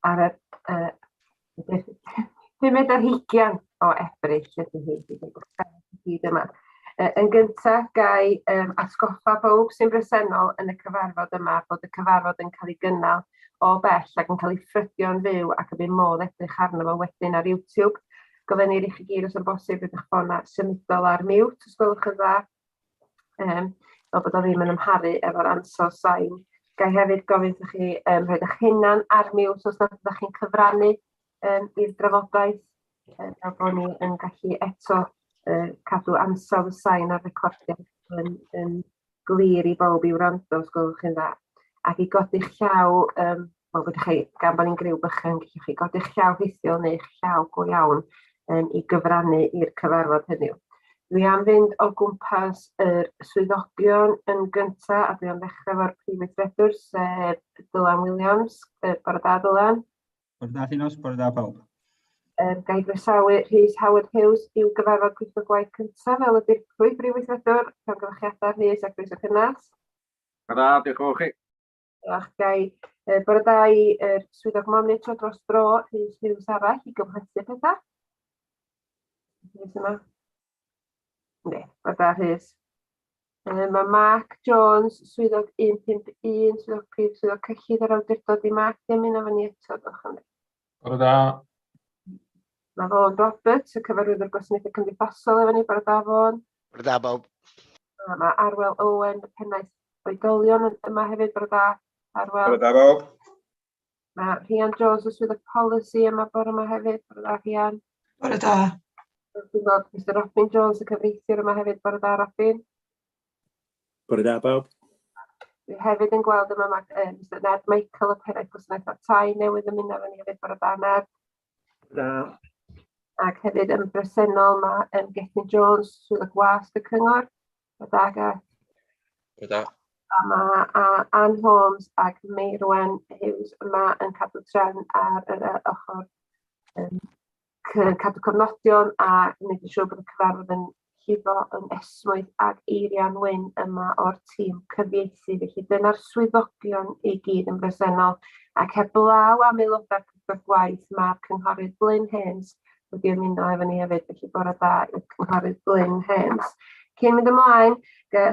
ar y uh, pumed ar hugian o Ebrill ydy hi, bydd yn gwrthau i gyd yma. Yn gyntaf, gai um, atgoffa bob sy'n bresennol yn y cyfarfod yma bod y cyfarfod yn cael ei gynnal o bell ac yn cael ei ffrydio'n fyw ac y bydd modd edrych arno fo wedyn ar YouTube. Gofynnir i chi gyd os yn bosib rydych ffona symudol ar mute, os gwelwch yn dda, um, fel bod o ddim yn ymharu efo'r ansawdd sain. Gai hefyd gofyn wrthych chi um, rhaid eich hunan ar miws os nad ydych chi'n cyfrannu um, i'r drafodaeth, um, fel bod ni yn gallu eto uh, cadw ansawdd y sain ar recordiad yn, yn glir i bawb i wrando os gwelwch chi'n dda ac i godi'ch llaw um, Wel, gyda chi, gan bod ni'n griw bychan, gallwch chi godi'ch llaw rhithiol neu'ch llaw go iawn um, i gyfrannu i'r cyfarfod heddiw. Dwi am fynd o gwmpas yr swyddogion yn gynta, a dwi am ddechrau fo'r Prif Weithredwr, sef Dylan Williams. Uh, Bore da, Dylan. Bore da, Llinos. Bore da, pawb. Um, Gai groesawu Rhys Howard Hughes i'w gyfarfod pwyllgor gwaith cyntaf fel y dirprwy Brif Weithredwr. Rhywgylchiadau Rhys ac Rhys o Cynnas. Da, diolch o chi. Diolch, Gai. Uh, bore da i uh, swyddog monitro dros dro, Rhys Hughes arall, i gymhlethu pethau. Rhys yma? Ne, bore da, Rhys. Uh, mae Mark Jones, swyddog 151, swyddog prif, swyddog cyllid yr awdurdod i Mark, ddim yn efo ni eto, diolch am Bore da. Na fo, Robert, y cyfarwyddwr gwasanaethau cymdeithasol efo ni, bore da fo'n. Bore da bob. Mae Arwel Owen, y pennaeth oedolion yma hefyd, bore da. Arwel. Bore da bob. Mae Rhian Jones o Swydd y Polisi yma bore yma hefyd, bore da Rhian. Bore da. Dwi'n gweld Mr Robin Jones, y cyfreithiwr yma hefyd, bore da Robin. Bore da bawb. Dwi hefyd yn gweld yma mae um, Mr Ned Michael o Peraeth Gwasanaethau Tai newydd ymuno efo ni hefyd bore da Ned. Da. Ac hefyd yn bresennol mae um, Gethin Jones, Swydd y Gwasg y Cyngor. Bore da Geth. Bore da. A mae uh, Anne Holmes ac Meirwen Hughes yma yn cadw tren ar yr uh, ochr um, cadw cofnodion a gwneud yn siŵr bod y cyfarfod yn llifo yn esmwyth ag eirian wyn yma o'r tîm cyfieithu. Felly dyna'r swyddogion i gyd yn bresennol ac heb law am aelodau'r cyfrif gwaith mae'r cynghorydd Glyn Hens wedi ymuno efo ni hefyd. Felly bore da i'r cynghorydd Glyn Hens. Cyn mynd ymlaen,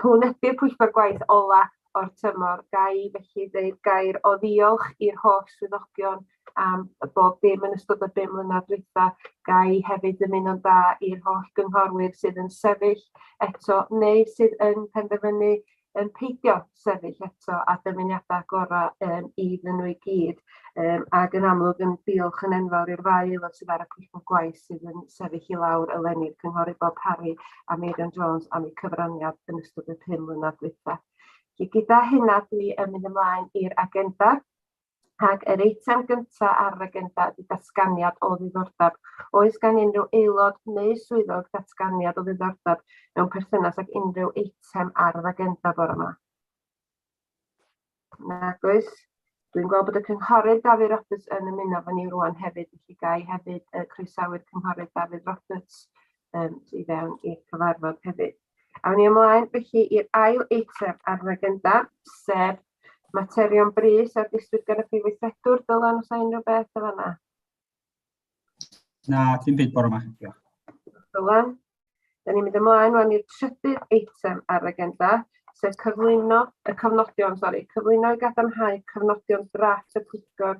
hwn ydy'r pwyllgor gwaith ola o'r tymor. Ga i felly ddeud gair o ddiolch i'r holl swyddogion am y bob dim yn ystod y bum mlynedd dwytha, ga i hefyd ymuno'n dda i'r holl gynghorwyr sydd yn sefyll eto neu sydd yn penderfynu yn peidio sefyll eto a dymuniadau gorau um, iddyn nhw i gyd. Um, ac yn amlwg yn diolch yn enfawr i'r ddau aelod sydd ar y pwyllgor gwaith sydd yn sefyll i lawr eleni, cynghorydd Bob Harry a Meirion Jones am eu cyfraniad yn ystod y pum mlynedd dwytha. Gyda hynna dwi yn mynd ymlaen i'r agenda. Ac yr eitem gyntaf ar yr agenda ydy datganiad o ddiddordeb. Oes gan unrhyw aelod neu swyddog datganiad o ddiddordeb mewn perthynas ag unrhyw eitem ar yr agenda bore yma? Nag oes. Dwi'n gweld bod y cynghorydd Dafydd Roberts yn ymuno fy ni rwan hefyd, felly ga i hefyd uh, croesawu'r cynghorydd Dafydd Roberts um, i fewn i'r cyfarfod hefyd. Awn ni ymlaen felly i'r ail eitem ar yr agenda, sef materion brys ar ddiswyd gan y Prif Weithredwr. Dylan, os unrhyw beth o fanna? Na, dim byd bore yma. Diolch. Dylan. Da ni'n mynd ymlaen rwan i'r trydydd eitem ar yr agenda, sef cyflwyno y cofnodion, sori, cyflwyno i gadarnhau cofnodion drafft y pwyllgor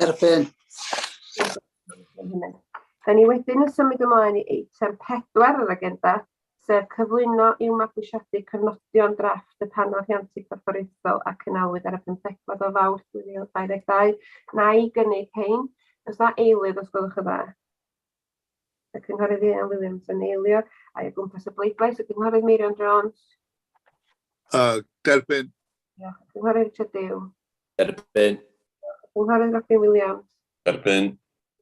Derbyn. Da ni wedyn yn symud ymlaen i eitem pedwar yr agenda, sef cyflwyno i'w mabwysiadu cyfnodion drafft y Panel Rhiantu Corfforaethol a cynalwyd ar y 15 o Fawrth 2022. Na i gynnig hein. Os na eilydd, os gwelwch yn dda. y Cynghorydd Ieuan Williams yn eilio, a'i o gwmpas y bleidlais, y Cynghorydd Meirion Jones. Uh, derbyn. Diolch. Y Cynghorydd Richard Dew. Derbyn. Y Cynghorydd Robin Williams. Derbyn.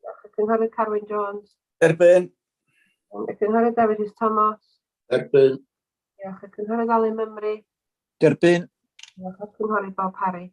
Diolch. Y Cynghorydd Carwyn Jones. Derbyn. Y Cynghorydd David Rhys Thomas. Derbyn. Diolch. Y Cynghorydd Alun Mymru. Derbyn. Diolch. Y Cynghorydd Bob Parry.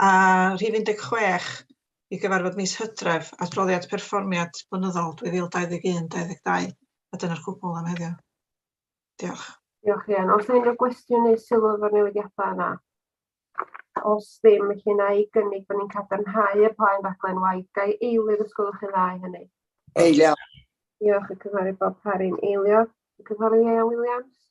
a rhif 16 i gyfarfod mis Hydref, adroddiad perfformiad blynyddol 2021-22, a dyna'r cwbl am heddiw. Diolch. Diolch Ian. Os yna unrhyw gwestiwn neu sylw efo'r newidiadau yna? Os ddim, felly na i gynnig bod ni'n cadarnhau y plaen raglen waith. Gai eilydd os gwelwch chi'n dda i hynny? Eilio. Diolch y cynghorydd Bob Parry'n eilio. Y cynghorydd Ieuan Williams?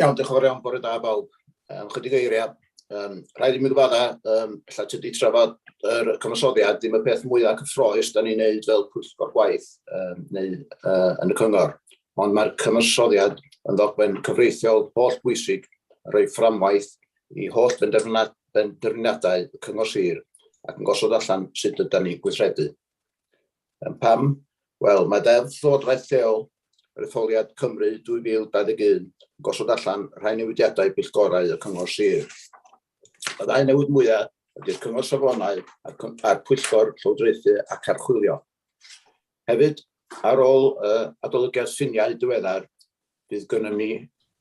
Iawn, diolch yn fawr iawn, bore da bawb. Um, chydig eiriau. Um, rhaid i mi gyfadda, um, lle ti wedi trafod yr er cyfansoddiad, dim y peth mwyaf cyffroes da ni'n neud fel pwyllgor gwaith um, neu uh, yn y cyngor. Ond mae'r cyfansoddiad yn ddogfen cyfreithiol holl bwysig yn rhoi fframwaith i holl benderfyniadau y cyngor sir ac yn gosod allan sut ydy'n ni gweithredu. Yn pam? Wel, mae Deddf Llywodraeth Lleol yr Etholiad Cymru 2021 yn gosod allan rhai newidiadau billgorau y Cyngor Sir. Y ddau newid mwyaf ydy'r Cyngor Safonau a'r Pwyllgor Llywodraethu ac Archwilio. Hefyd, ar ôl uh, adolygiad ffiniau diweddar, bydd gennym ni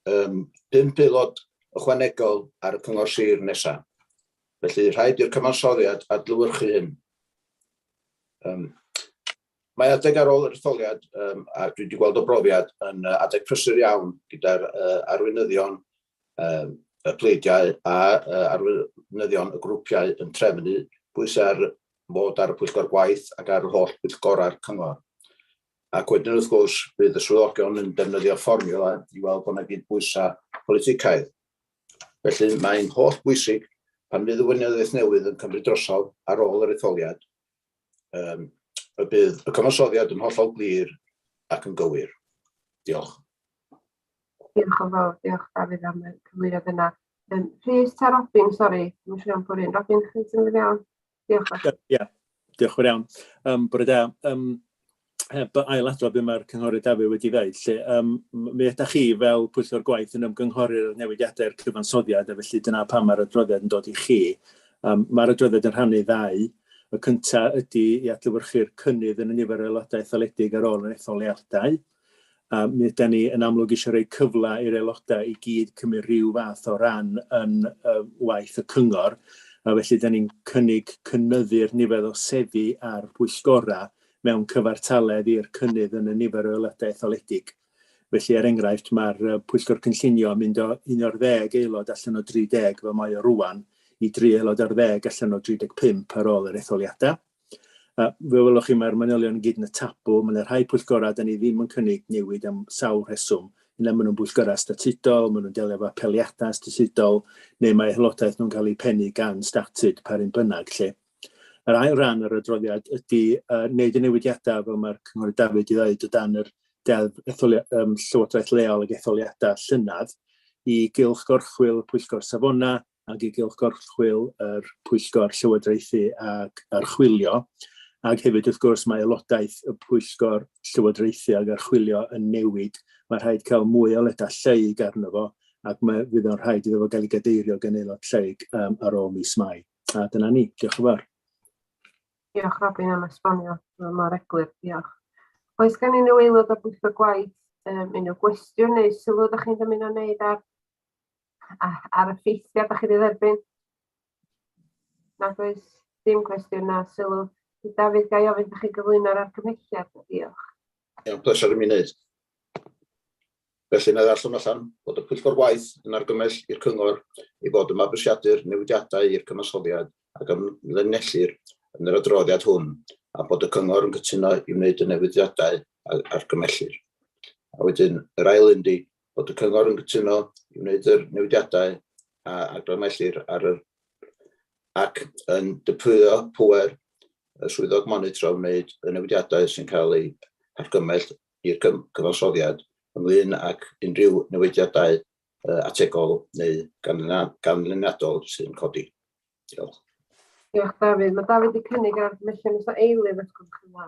um, pum peilod ychwanegol ar y cyngor sir nesaf. Felly, rhaid i'r cyfansoddiad adlywyrchu hyn. Um, mae adeg ar ôl yr etholiad, um, a dwi wedi gweld o brofiad, yn uh, adeg prysur iawn gyda'r uh, arweinyddion um, y pleidiau a uh, arweinyddion y grwpiau yn trefnu bwysau ar fod ar y pwyllgor gwaith ac ar yr holl bwyllgorau'r cyngor. Ac wedyn wrth gwrs bydd y swyddogion yn defnyddio fformiwla i weld bod yna gyd bwysau politicaidd. Felly, mae'n holl bwysig pan fydd y Weinyddiaeth newydd yn cymryd drosodd ar ôl yr etholiad, um, y bydd y cyfansoddiad yn hollol glir ac yn gywir. Diolch. Diolch yn fawr, diolch Dafydd am y cyflwyniad yna. Um, Rhys ta Robin, sori, dwi'n siŵr am bwryn. Robin, chi'n symud iawn? Diolch fawr. Ie, yeah. diolch fawr iawn. Um, bore da. Um, heb ailadrodd be mae'r cynghorydd Dafydd wedi dweud, lle um, mi ydych chi fel pwyllgor gwaith yn ymgynghori'r newidiadau'r cyfansoddiad, a felly dyna pam mae'r adroddiad yn dod i chi. Um, mae'r adroddiad yn rhannu ddau. Y cyntaf ydy i adlywyrchu'r cynnydd yn y nifer o aelodau etholedig ar ôl yr etholiadau, A mi 'dan ni yn amlwg eisiau rhoi cyfle i'r aelodau i gyd cymryd rhyw fath o ran yn y waith y cyngor, a felly 'dan ni'n cynnig cynyddu'r nifer o seddi ar bwyllgorau mewn cyfartaledd i'r cynnydd yn y nifer o aelodau etholedig. Felly, er enghraifft, mae'r Pwyllgor Cynllunio yn mynd o un o'r ddeg aelod allan o 30 fel mae o rwan i dri aelod ar ddeg allan o 35 ar ôl yr etholiadau. Yy, fel welwch chi, mae'r manylion i gyd yn y tabw. Mae 'na rhai pwyllgorau 'dan ni ddim yn cynnig newid am sawl rheswm. Yna maen nhw'n bwyllgorau statudol, maen nhw'n delio efo apeliadau statudol, neu mae aelodaeth nhw'n cael ei pennu gan statud, pa run bynnag, lle. Yr ail ran yr adroddiad ydy uh, wneud y newidiadau fel mae'r Cynghorydd David wedi dweud o dan yr deddf etholi, um, llywodraeth leol ag etholiadau llynedd i gylch gorchwyl pwyllgor safona, ac i gylch gorchwyl yr Pwyllgor Llywodraethu ac Archwilio, ac hefyd wrth gwrs mae aelodaeth y Pwyllgor Llywodraethu ac Archwilio yn newid, mae rhaid cael mwy o ledau lleyg arno fo ac mae fydd o'n rhaid iddo fo gael ei gadeirio gan aelod lleyg um, ar ôl mis Mai. A dyna ni, diolch yn fawr. Diolch Robin am esbonio mor eglur, diolch. Oes gen unrhyw aelod o bwyllgor gwaith um, unrhyw gwestiwn neu sylw ydych chi'n dymuno wneud ar ar y ffeithiau da chi wedi dderbyn? Nad oes dim cwestiwn na sylw. Dafydd, ga i ofyn da chi gyflwyno'r argymhelliad? Diolch. Iawn, pleser i mi wneud. Felly, na ddarllen allan bod y pwyllgor waith yn argymell i'r cyngor i fod yn mabwysiadu'r newidiadau i'r cyfansoddiad ac ymlinellir yn yr adroddiad hwn a bod y cyngor yn cytuno i wneud y newidiadau a argymellir. A wedyn, yr ail un di, bod y Cyngor yn cytuno i wneud yr newidiadau a argymhellir ar yr ac yn dypwyo pŵer y Swyddog Monitro wneud y newidiadau sy'n cael eu hargymell i'r Cyfansoddiad ynglŷn ac unrhyw newidiadau ategol neu ganlyniadol sy'n codi. Diolch. Diolch, Dafydd. Mae Dafydd wedi cynnig ar argymhellion Mister Eilydd, os gwelwch yn dda.